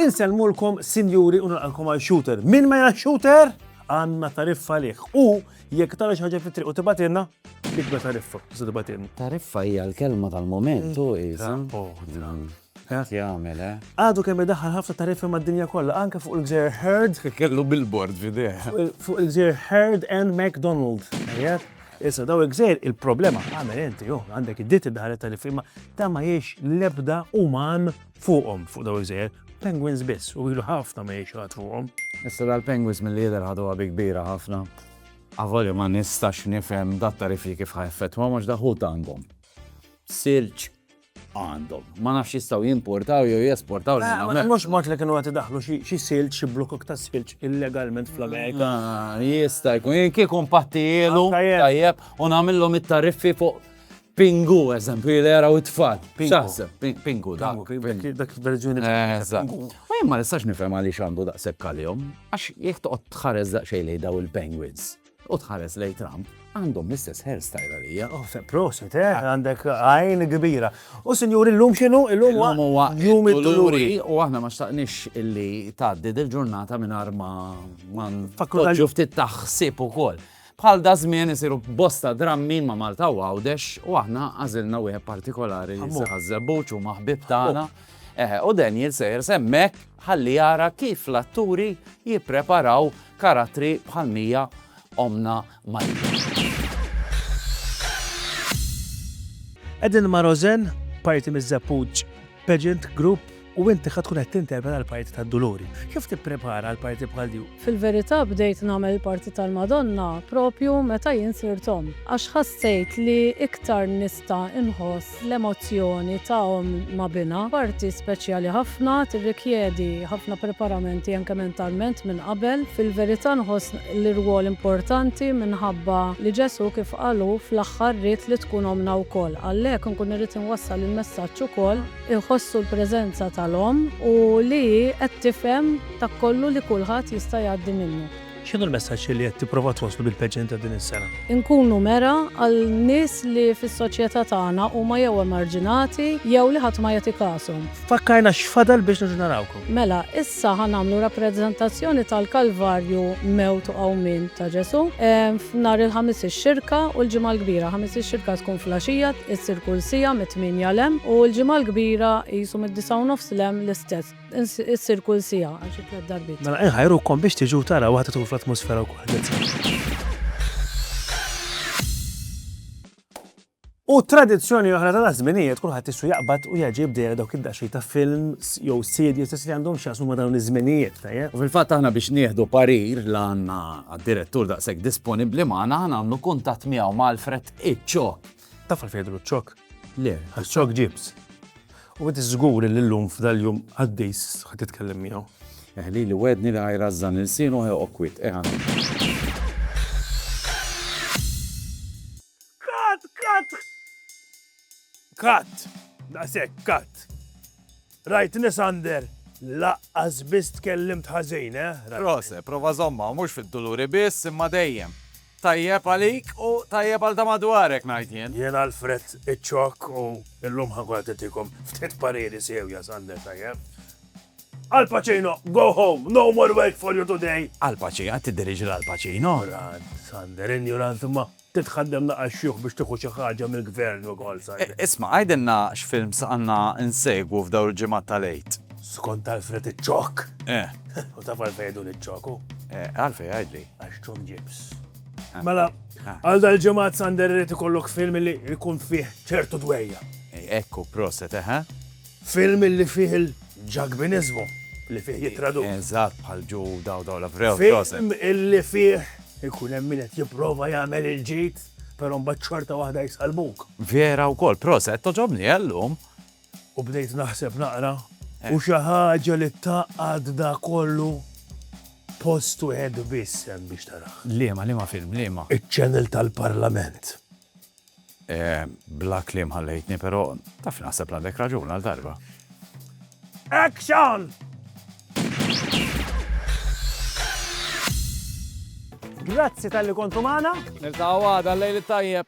Insellmulkom sinjuri u nilqalkom għal shooter. Min ma jara shooter? Għanna tariffa liħ. U jekk tara xi ħaġa fit-triq u tibatilna, biex ma tariffa, se tibatilna. Tariffa hija l-kelma tal-moment u Qed jagħmel, eh? Għadu kemm idaħħal ħafna tariffi mad-dinja kollha, anke fuq il-gżejjer Heard. Kellu billboard f'idejh. Fuq il-gżejjer Heard and McDonald. Tajjeb? Issa daw il-gżejjer il-problema għamel inti, oh, għandek id-ditt id-daħalet tariffi ma ta' ma jiex l-ebda uman fuqhom fuq daw il-gżejjer. Penguins biss u ilu ħafna ma jiex għad fuqhom. Issa dal-penguins mill-lider ħadu għabi kbira ħafna. Għavoli ma nistax nifhem dat tariffi kif ħajfet, ma mhux daħu tangom. Sirċ għandhom. Ma nafx jistgħu jimportaw jew jesportaw lejn hawnhekk. Mhux mod li kienu qed idaħħlu xi silġ, xi blukok ta' silġ illegalment fl-Amerika. Ah, jista' jkun jien kieku mpattijielu ah, tajjeb u nagħmilhom it-tariffi fuq Pingu, eżempju, li jaraw it-tfal. Xaħseb, pingu, dak. Dak verżjoni. Eżatt. U jien ma nistax nifhem għaliex għandu daqshekk għalihom, għax jekk toqgħod tħares daqsxejn lejn daw il-penguins. u tħares lejn Trump, għandhom l-istess hairstyle għalija. Oh, proset, eh, għandek għajn kbira. U sinjur, illum xinu? Illum huwa jum il-turi. U aħna ma xtaqnix illi tgħaddi dil-ġurnata minn arma man fakultaġu ftit taħsib ukoll. Bħal da żmien isiru bosta drammi ma' Malta u għawdex u aħna għażilna wieħed partikolari li se ħażżebbuċ u maħbib tagħna. Oh. Eh, u Daniel sejr semmek ħalli jara kif l-atturi jippreparaw karattri bħal Mija, ommna Malika. Qegħdin ma' Rozen, parti miż-Żeppuġġ Pageant Group u inti ħa tkun qed tinterpreta l-parti tad-Duluri. Kif tipprepara għal parti bħal di? Fil-verità bdejt nagħmel il-parti tal-Madonna propju meta jien sirt omm, għax ħassejt li iktar nista' inħoss L-emozzjoni ta' omm ma' binha, parti speċjali ħafna, tirrikjedi ħafna preparamenti anke mentalment minn qabel. Fil-verità nħoss li rwol importanti minħabba li Ġesù kif qal hu fl-aħħar ried li tkun ommna wkoll. Għalhekk inkun irrid inwassal il-messaġġ ukoll, iħossu l-preżenza tal-omm u li hi qed tifhem dak kollu li kulħadd jista' jgħaddi minnu. X'inhu l-messaġġ li qed tipprova twasslu bil-pageant ta' din is-sena? Inkunu mera għal nies li fis-soċjetà tagħna huma jew emarġinati jew li ħadd ma jagħti kashom. Fakkarna x'fadal biex nerġgħu narawkom. Mela, issa ħa nagħmlu rappreżentazzjoni tal-Kalvarju, mewt u qawmien ta' Ġesù, f'Nhar il-Ħamis ix-Xirka u l-Ġimgħa l-Kbira. Ħamis ix-Xirka tkun fl-għaxija, issir kull siegħa mit-tmienja 'l hemm, u l-Ġimgħa l-Kbira qisu mid-disgħa u nofs 'l hemm l-istess. Issir kull sija għal xi tliet darbit. Mela inħajrukom biex tiġu tara waħda tkun fl-atmosfera wkoll. U tradizzjoni oħra ta' żminijiet kulħadd issu jaqbad u jaġi bdejja dawk id-daxxi ta' films jew sidji stess li għandhom x'jaqsmu ma' dawn iż-żminijiet tajjeb. U fil-fatt aħna biex nieħdu parir l għandna għad-direttur daqshekk disponibbli magħna nagħmlu kuntatt miegħu ma' Alfred Iċċo. Taf għalfejn jidhru ċ-ċokk? Le, għax ċokk ġibs. U inti żgur li llum f'dal-jum qaddis ħa titkellem miegħu. Eħli li wedni li ħajrażżan ilsienu ħa joqgħod kwiet, eħa. Kat! Kat! Kat! Daqshekk, kat! Rajt Nisander, laqqas biss tkellimt ħażin, eh? Rose, prova żommha, mhux fid-duluri biss, imma dejjem. Tajjeb għalik u tajjeb għal ta' madwarek, ngħid jien. Jien Alfred iċ-ċokk u llum ħankun qed ftit pariri sewja, Sander, tajjeb? Al Pacino, go home, no more work for you today. Al Pacino, qed tiddirigi l-Al Pacino. Sander, injurant ma' Trid tħaddem laqgħa xjuħ biex tieħu xi ħaġa mill-Gvern ukoll saħibni. Isma', għidilna x'films għandna nsegwu f'dawn il-ġimgħat tal-Għid. Skont Alfred iċ-Ċokk! Eh. U taf għalfejn jgħiduli iċ-Ċokk hu? Eh, għalfejn għidli? Għax Tom Gibbs. Eh. Mela, eh. għal dal-ġimgħat Sander irid ikollok film li jkun fih ċertu dwejja. Ekku, proset, eħe. Film li fih il-Ġakbiniżmu, li fih jittradux. Eżatt, bħal Ġu daw u daw la vrew, proset. Film li fih ikun hemm min qed jipprova jagħmel il-ġid, però mbagħad xorta waħda jsallmuk. Vera wkoll, proset, togħġobni, eh, llum. U bdejt naħseb naqra, u xi ħaġa li tgħaqqad da kollu, post wieħed biss hemm biex tarah. Liema, liema film, liema? Iċ-channel tal-Parlament. Bla kliem ħallejtni, però taf naħseb li għandek raġun għal darba. Action! Grazzi tal-li kontu magħna. Niltaqgħu għada l-lejl it-tajjeb.